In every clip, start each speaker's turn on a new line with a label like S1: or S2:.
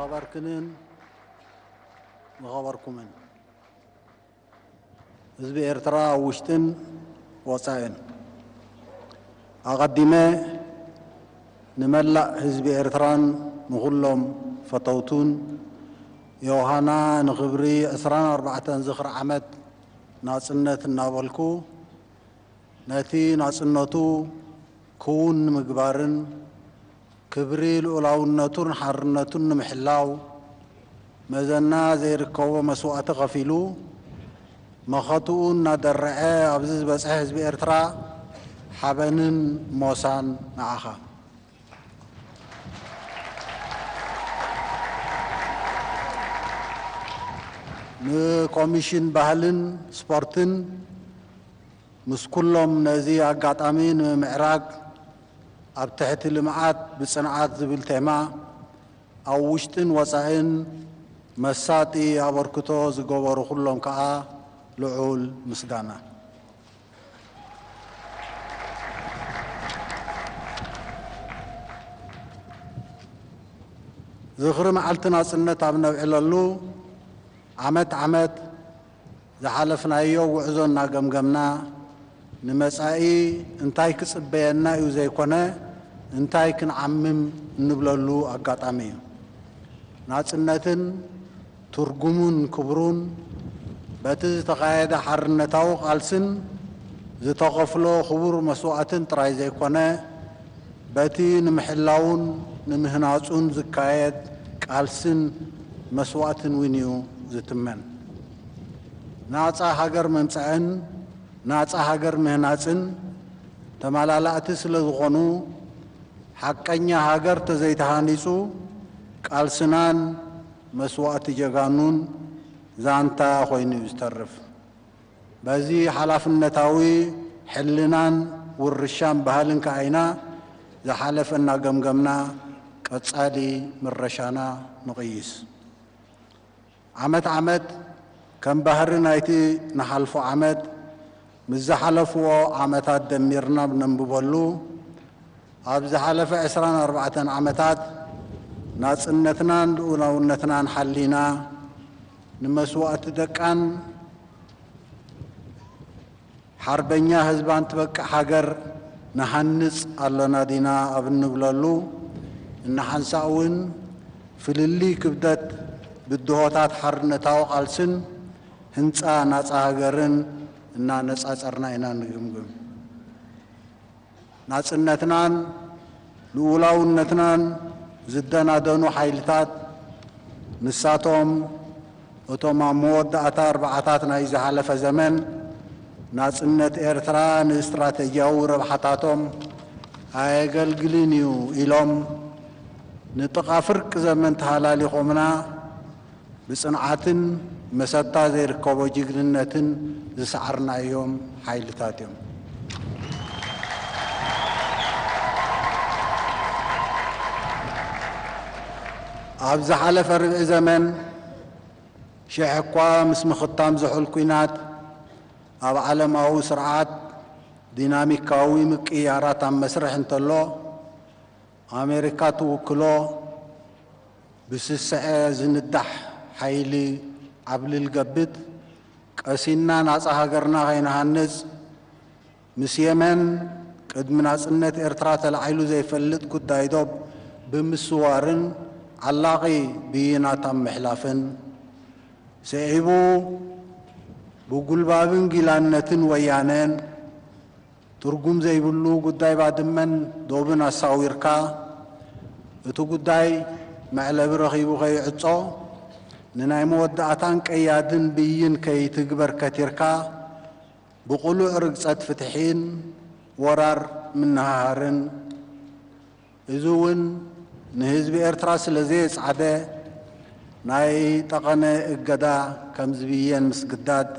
S1: ዝኸበርክንን ዝኸበርኩምን ህዝቢ ኤርትራ ኣብ ውሽጥን ወጻኢን ኣቐዲመ ንመላእ ህዝቢ ኤርትራን ንኹሎም ፈተውቱን ዮሃና ንኽብሪ 24 ዝኽሪ ዓመት ናጽነት እናበልኩ ነቲ ናጽነቱ ክውን ምግባርን ክብሪ ልኡላውነቱን ሓርነቱን ንምሕላው መዘና ዘይርከቦ መስዋእቲ ከፊሉ መኸትኡ እናደረዐ ኣብዚ ዝበፅሐ ህዝቢ ኤርትራ ሓበንን ሞሳን ንዓኻ። ንኮሚሽን ባህልን ስፖርትን ምስ ኩሎም ነዚ ኣጋጣሚ ንምምዕራግ ኣብ ትሕቲ ልምዓት ብፅንዓት ዝብል ቴማ ኣብ ውሽጥን ወፃኢን መሳጢ ኣበርክቶ ዝገበሩ ኩሎም ከዓ ልዑል ምስጋና። ዝኽሪ መዓልቲ ናፅነት ኣብ ነብዕለሉ ዓመት ዓመት ዝሓለፍናዮ ጉዕዞ እናገምገምና፣ ንመጻኢ እንታይ ክጽበየና እዩ ዘይኮነ፣ እንታይ ክንዓምም እንብለሉ ኣጋጣሚ እዩ። ናጽነትን ትርጉሙን ክብሩን፣ በቲ ዝተኻየደ ሓርነታዊ ቃልስን ዝተኸፍሎ ክቡር መስዋእትን ጥራይ ዘይኮነ፣ በቲ ንምሕላዉን ንምህናጹን ዝካየድ ቃልሲን መስዋእትን ውን እዩ ዝትመን። ናጻ ሃገር ምምጻእን ናጻ ሃገር ምህናጽን ተማላላእቲ ስለ ዝኾኑ፣ ሓቀኛ ሃገር ተዘይተሃኒጹ ቃልስናን መስዋእቲ ጀጋኑን ዛንታ ኮይኑ እዩ ዝተርፍ። በዚ ሓላፍነታዊ ሕልናን ውርሻን ባህልን ከኣ ኢና ዝሓለፈ እናገምገምና ቀጻሊ ምረሻና ንቕይስ። ዓመት ዓመት ከም ባህሪ ናይቲ ንሓልፎ ዓመት ምስ ዝሓለፍዎ ዓመታት ደሚርና ኣብ ነንብበሉ፣ ኣብ ዝሓለፈ ዕስራን ኣርባዕተን ዓመታት ናጽነትናን ልኡላውነትናን ሓሊና፣ ንመስዋእቲ ደቃን ሓርበኛ ህዝባን ትበቅዕ ሃገር ንሃንጽ ኣሎና ዲና ኣብ እንብለሉ እንሓንሳእ እውን ፍልልይ ክብደት ብድሆታት ሓርነታዊ ቃልስን ህንጻ ናጻ ሃገርን እናነጻጸርና ኢና እንግምግም። ናጽነትናን ልኡላውነትናን ዝደናደኑ ሓይልታት፣ ንሳቶም እቶም ኣብ መወዳእታ ኣርብዓታት ናይ ዝሓለፈ ዘመን፣ ናጽነት ኤርትራ ንእስትራተጂያዊ ረብሓታቶም ኣየገልግልን እዩ ኢሎም ንጥቓ ፍርቂ ዘመን ተሃላሊኾምና፣ ብፅንዓትን መሰታ ዘይርከቦ ጅግንነትን ዝሰዓርናዮም ሓይልታት እዮም። ኣብ ዝሓለፈ ርብዒ ዘመን ሽሕ እኳ ምስ ምኽታም ዝሑል ኲናት ኣብ ዓለማዊ ስርዓት ዲናሚካዊ ምቅይያራት ኣብ መስርሕ እንተሎ ኣሜሪካ ትውክሎ ብስሰዐ ዝንዳሕ ሓይሊ ዓብልል ገብት ቀሲንና ናጻ ሃገርና ከይንሃንጽ ምስ የመን ቅድሚ ናጽነት ኤርትራ ተላዒሉ ዘይፈልጥ ጉዳይ ዶብ ብምስዋርን ዓላቒ ብይናት ኣብ ምሕላፍን ስዒቡ ብጉልባብን ጊላነትን ወያነ ትርጉም ዘይብሉ ጉዳይ ባድመን ዶብን ኣሳዊርካ፣ እቲ ጉዳይ መዕለቢ ረኺቡ ከይዕጾ፣ ንናይ መወዳእታን ቀያድን ብይን ከይትግበር ከቲርካ፣ ብቕሉዕ ርግጸት ፍትሒን ወራር ምንሃሃርን፣ እዚ ውን ንህዝቢ ኤርትራ ስለ ዘየጽዓደ ናይ ጠቐነ እገዳ ከም ዝብየን ምስግዳድ፣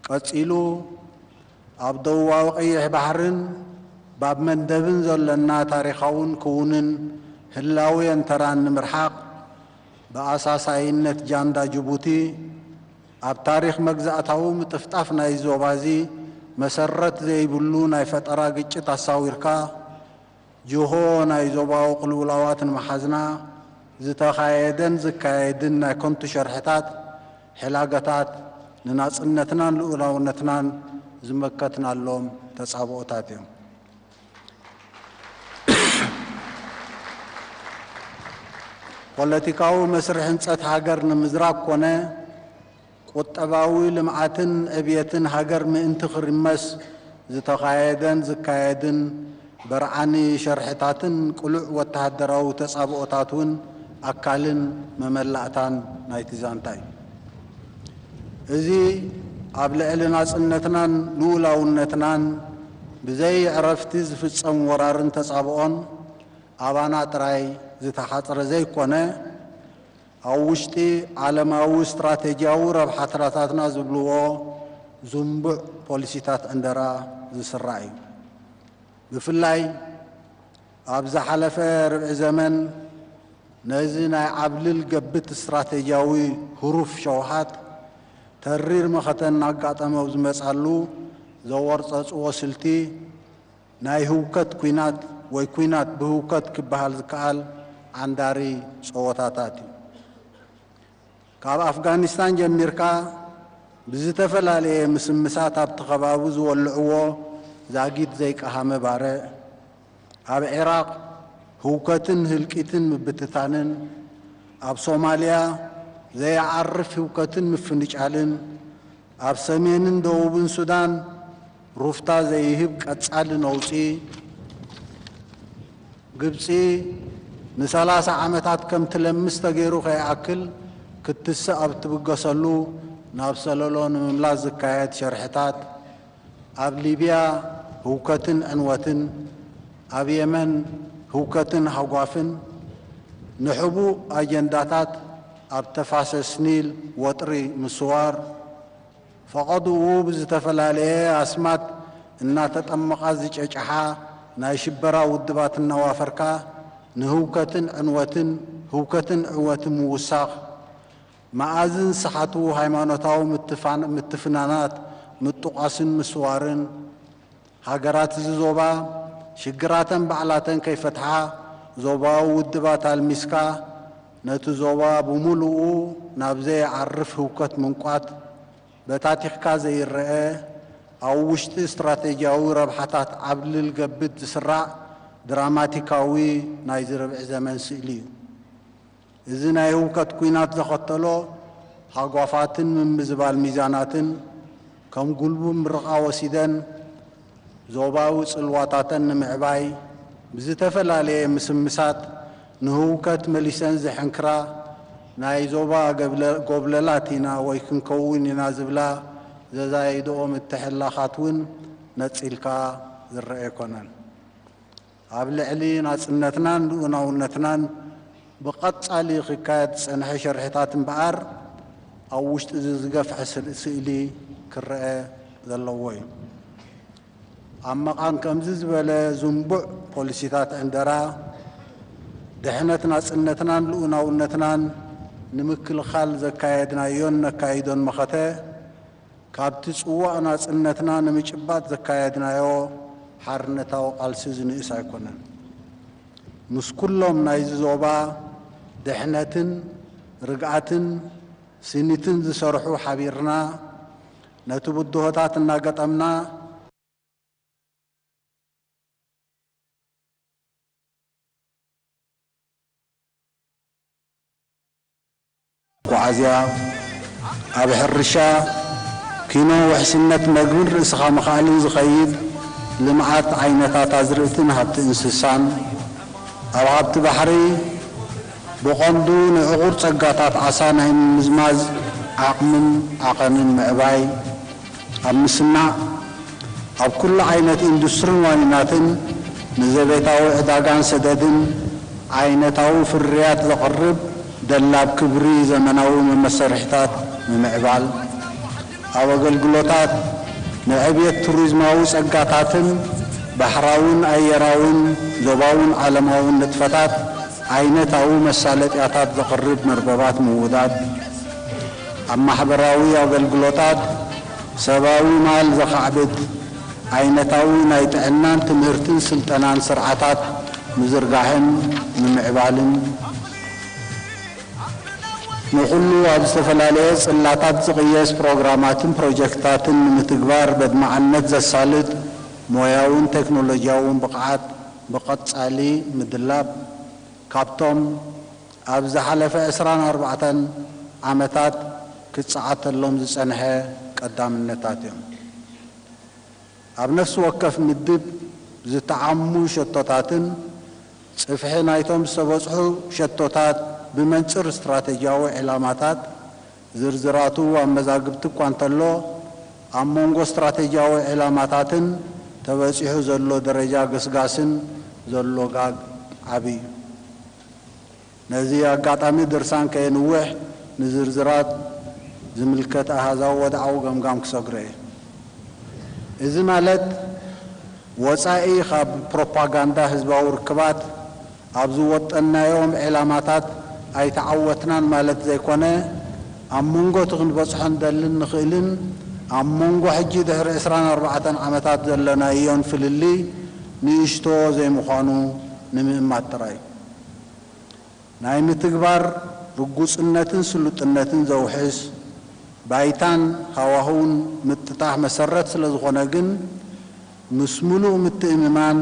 S1: ቀጺሉ ኣብ ደቡባዊ ቀይሕ ባሕርን ባብ መንደብን ዘሎና ታሪኻውን ክውንን ህላዌን ተራን ንምርሓቕ ብኣሳሳይነት ጃንዳ ጅቡቲ ኣብ ታሪኽ መግዛእታዊ ምጥፍጣፍ ናይዚ ዞባዚ መሰረት ዘይብሉ ናይ ፈጠራ ግጭት ኣሳዊርካ ጅሆ ናይ ዞባዊ ቅልውላዋት ንምሓዝና ዝተኻየደን ዝካየድን ናይ ከንቱ ሸርሕታት ሕላገታት ንናጽነትናን ልኡላውነትናን ዝመከትናሎም ተጻብኦታት እዮም። ፖለቲካዊ መስርሕ ህንፀት ሃገር ንምዝራግ ኮነ ቁጠባዊ ልምዓትን ዕብየትን ሃገር ምእንቲ ክርመስ ዝተኻየደን ዝካየድን በርዓኒ ሸርሕታትን ቅሉዕ ወተሃደራዊ ተፃብኦታት እውን ኣካልን መመላእታን ናይቲ ዛንታ እዩ። እዚ ኣብ ልዕሊ ናጽነትናን ልኡላውነትናን ብዘይዕረፍቲ ዝፍጸም ወራርን ተጻብኦን ኣባና ጥራይ ዝተሓጽረ ዘይኮነ፣ ኣብ ውሽጢ ዓለማዊ ስትራተጂያዊ ረብሓትራታትና ዝብልዎ ዝንቡዕ ፖሊሲታት ዕንደራ ዝስራዕ እዩ። ብፍላይ፣ ኣብ ዝሓለፈ ርብዒ ዘመን ነዚ ናይ ዓብልል ገብት ስትራቴጂያዊ ህሩፍ ሸውሃት ተሪር መኸተ እናጋጠመ ኣብ ዝመጻሉ ዘወርጸጽዎ ስልቲ ናይ ህውከት ኩናት ወይ ኩናት ብህውከት ክበሃል ዝከኣል ዓንዳሪ ጸወታታት እዩ። ካብ ኣፍጋኒስታን ጀሚርካ ብዝተፈላለየ ምስምሳት ኣብቲ ከባቢ ዝወልዕዎ ዛጊት ዘይቀሃመ ባርዕ፣ ኣብ ዒራቕ ህውከትን ህልቂትን ምብትታንን፣ ኣብ ሶማልያ ዘየዓርፍ ህውከትን ምፍንጫልን፣ ኣብ ሰሜንን ደቡብን ሱዳን፣ ሩፍታ ዘይህብ ቀጻሊ ነውጺ፣ ግብጺ ንሰላሳ ዓመታት ከም ትለምስ ተገይሩ ከይኣክል ክትስእ ኣብ እትብገሰሉ ናብ ሰለሎ ንምምላስ ዝካየድ ሸርሕታት፣ ኣብ ሊብያ ህውከትን ዕንወትን፣ ኣብ የመን ህውከትን ሃጓፍን፣ ንሕቡእ ኣጀንዳታት ኣብ ተፋሰስ ኒል ወጥሪ ምስዋር፣ ፈቐድኡ ብዝተፈላለየ ኣስማት እናተጠመቓ ዝጨጨሓ ናይ ሽበራ ውድባት እናዋፈርካ ንህውከትን ዕንወትን፣ ህውከትን ዕወትን ምውሳኽ፣ መኣዝን ሰሓቱ ሃይማኖታዊ ምትፍናናት ምጡቛስን ምስዋርን፣ ሃገራት እዚ ዞባ ሽግራተን ባዕላተን ከይፈትሓ ዞባዊ ውድባት ኣልሚስካ ነቲ ዞባ ብሙሉኡ ናብ ዘይዓርፍ ህውከት ምንቋት በታቲኽካ ዘይረኣ ኣብ ውሽጢ ስትራቴጂያዊ ረብሓታት ዓብልል ገብት ዝስራዕ ድራማቲካዊ ናይዚ ርብዒ ዘመን ስእሊ እዩ። እዚ ናይ ህውከት ኲናት ዘኸተሎ ሃጓፋትን ምምዝባል ሚዛናትን ከም ጉልቡ ምርቓ ወሲደን ዞባዊ ጽልዋታተን ንምዕባይ ብዝተፈላለየ ምስምሳት ንህውከት መሊሰን ዝሕንክራ ናይ ዞባ ጎብለላት ኢና ወይ ክንከውን ኢና ዝብላ ዘዛይድኦ ምትሕልላኻት እውን ነጺልካ ዝረኣ ኣይኮነን። ኣብ ልዕሊ ናጽነትናን ልኡላውነትናን ብቐጻሊ ክካየድ ዝጸንሐ ሽርሒታት እምበኣር ኣብ ውሽጢ'ዚ ዝገፍሐ ስእሊ ክረኣ ዘለዎ እዩ። ኣብ መቓን ከምዚ ዝበለ ዝንቡዕ ፖሊሲታት ዕንደራ፣ ድሕነት ናጽነትናን ልኡላውነትናን ንምክልኻል ዘካየድናዮን ነካይዶን መኸተ፣ ካብቲ ጽዋእ ናጽነትና ንምጭባጥ ዘካየድናዮ ሓርነታዊ ቃልሲ ዝንእስ ኣይኮነን። ምስ ኩሎም ናይዚ ዞባ ድሕነትን ርግኣትን ስኒትን ዝሰርሑ ሓቢርና ነቲ ብድሆታት እናገጠምና፣ መጓዓዝያ፣ ኣብ ሕርሻ፣ ኪኖ፣ ውሕስነት መግብን ርእስኻ ምኽኣልን ዝኸይድ ልምዓት ዓይነታት ኣዝርእትን ሃብቲ እንስሳን፣ ኣብ ሃብቲ ባሕሪ፣ ብቐንዱ ንዕቑር ጸጋታት ዓሳ ናይ ምምዝማዝ ዓቕምን ዓቐንን ምዕባይ፣ ኣብ ምስናዕ፣ ኣብ ኩሉ ዓይነት ኢንዱስትርን ዋኒናትን ንዘቤታዊ ዕዳጋን ሰደድን ዓይነታዊ ፍርያት ዘቕርብ ደላብ ክብሪ ዘመናዊ መመሰርሒታት ምምዕባል፣ ኣብ ኣገልግሎታት ንዕብየት ቱሪዝማዊ ጸጋታትን ባሕራዊን ኣየራዊን ዞባዊን ዓለማዊን ንጥፈታት ዓይነታዊ መሳለጥያታት ዘቕርብ መርበባት ምውዳድ፣ ኣብ ማሕበራዊ ኣገልግሎታት ሰባዊ ማል ዘኻዕብት ዓይነታዊ ናይ ጥዕናን ትምህርትን ስልጠናን ስርዓታት ምዝርጋሕን ምምዕባልን፣ ንኹሉ ኣብ ዝተፈላለየ ጽላታት ዝቕየስ ፕሮግራማትን ፕሮጀክትታትን ንምትግባር በድማዕነት ዘሳልጥ ሞያውን ቴክኖሎጂያውን ብቕዓት ብቐጻሊ ምድላብ ካብቶም ኣብ ዝሓለፈ ዕስራን ኣርባዕተን ዓመታት ክጸዓተሎም ዝጸንሐ ቀዳምነታት እዮም። ኣብ ነፍሲ ወከፍ ምድብ ዝተዓሙ ሸቶታትን ጽፍሒ ናይቶም ዝተበጽሑ ሸቶታት ብመንጽር ስትራተጂያዊ ዒላማታት ዝርዝራቱ ኣብ መዛግብቲ እኳ እንተሎ፣ ኣብ መንጎ ስትራተጂያዊ ዒላማታትን ተበጺሑ ዘሎ ደረጃ ገስጋስን ዘሎ ጋግ ዓቢ እዩ። ነዚ ኣጋጣሚ ድርሳን ከየንውሕ ንዝርዝራት ዝምልከት ኣሃዛዊ ወድዓዊ ገምጋም ክሰግሮ እየ። እዚ ማለት ወጻኢ ካብ ፕሮፓጋንዳ ህዝባዊ ርክባት ኣብ ዝወጠንናዮም ዒላማታት ኣይተዓወትናን ማለት ዘይኮነ፣ ኣብ መንጎ እቲ ክንበጽሖ ንደልን ንኽእልን ኣብ መንጎ ሕጂ ድሕሪ ዕስራን ኣርባዕተን ዓመታት ዘለናዮን ፍልልይ ንእሽቶ ዘይምዃኑ ንምእማት ጥራይ ናይ ምትግባር ርጉጽነትን ስሉጥነትን ዘውሕስ ባይታን ሃዋህውን ምጥጣሕ መሰረት ስለዝኾነ ግን ምስ ምሉእ ምትእምማን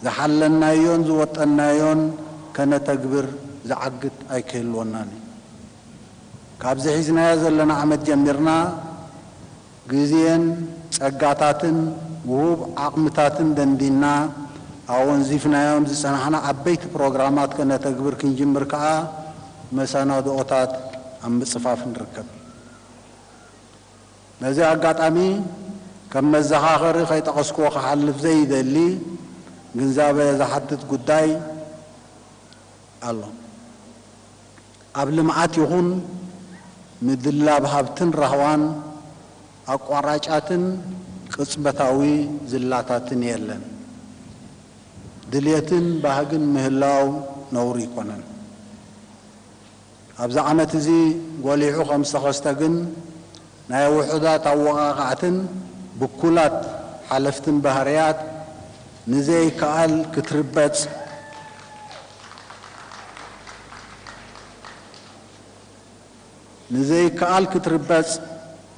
S1: ዝሓለናዮን ዝወጠንናዮን ከነተግብር ዝዓግት ኣይክህልወናን እዩ። ካብዚ ሒዝናዮ ዘለና ዓመት ጀሚርና ግዜን ጸጋታትን ውሁብ ዓቕምታትን ደንዲንና ኣወንዚፍናዮም ዝጸናሕና ዓበይቲ ፕሮግራማት ከነተግብር ክንጅምር ከኣ መሰናድኦታት ኣብ ምጽፋፍ ንርከብ። በዚ ኣጋጣሚ ከም መዘኻኸሪ ከይጠቐስኩዎ ክሓልፍ ዘይደሊ ግንዛበ ዝሓትት ጉዳይ ኣሎ። ኣብ ልምዓት ይኹን ምድላብ ሃብትን ራህዋን ኣቋራጫትን ቅጽበታዊ ዝላታትን የለን። ድልየትን ባህግን ምህላው ነውሪ ኣይኮነን። ኣብዚ ዓመት እዚ ጎሊሑ ከም ዝተኸስተ ግን ናይ ውሑዳት ኣወቓቓዕትን ብኩላት ሓለፍትን ባህርያት ንዘይከኣል ክትርበጽ፣ ንዘይከኣል ክትርበጽ፣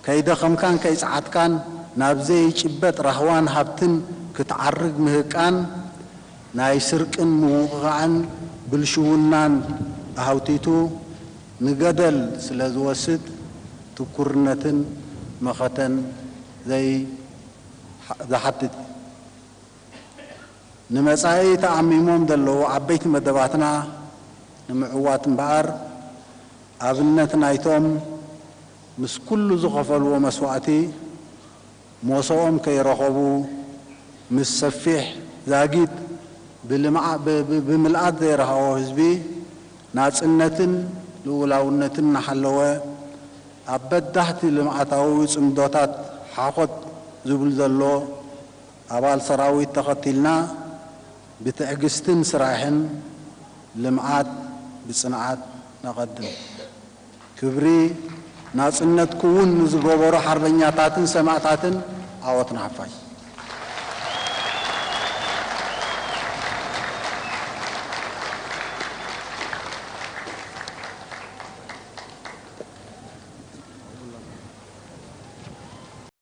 S1: ከይደኸምካን ከይጸዓትካን ናብ ዘይጭበጥ ራህዋን ሃብትን ክትዓርግ ምህቃን፣ ናይ ስርቅን ምውቕቓዕን ብልሽውናን ኣህውቲቱ ንገደል ስለ ዝወስድ፣ ትኩርነትን መኸተን ዝሓትት እዩ። ንመጻኢ ተኣሚሞም ዘለዉ ዓበይቲ መደባትና ንምዕዋት እምበኣር፣ ኣብነት ናይቶም ምስ ኩሉ ዝኸፈልዎ መስዋእቲ ሞሰኦም ከይረኸቡ ምስ ሰፊሕ ዛጊት ብምልኣት ዘይረሃዎ ህዝቢ ናጽነትን ልኡላውነትን እናሓለወ ኣብ በዳህቲ ልምዓታዊ ጽምዶታት ሓኾት ዝብል ዘሎ ኣባል ሰራዊት ተኸቲልና ብትዕግስትን ስራሕን ልምዓት ብፅንዓት ነቐድም። ክብሪ ናፅነት ክውን ንዝገበሩ ሓርበኛታትን ሰማእታትን ዓወት ንሓፋሽ!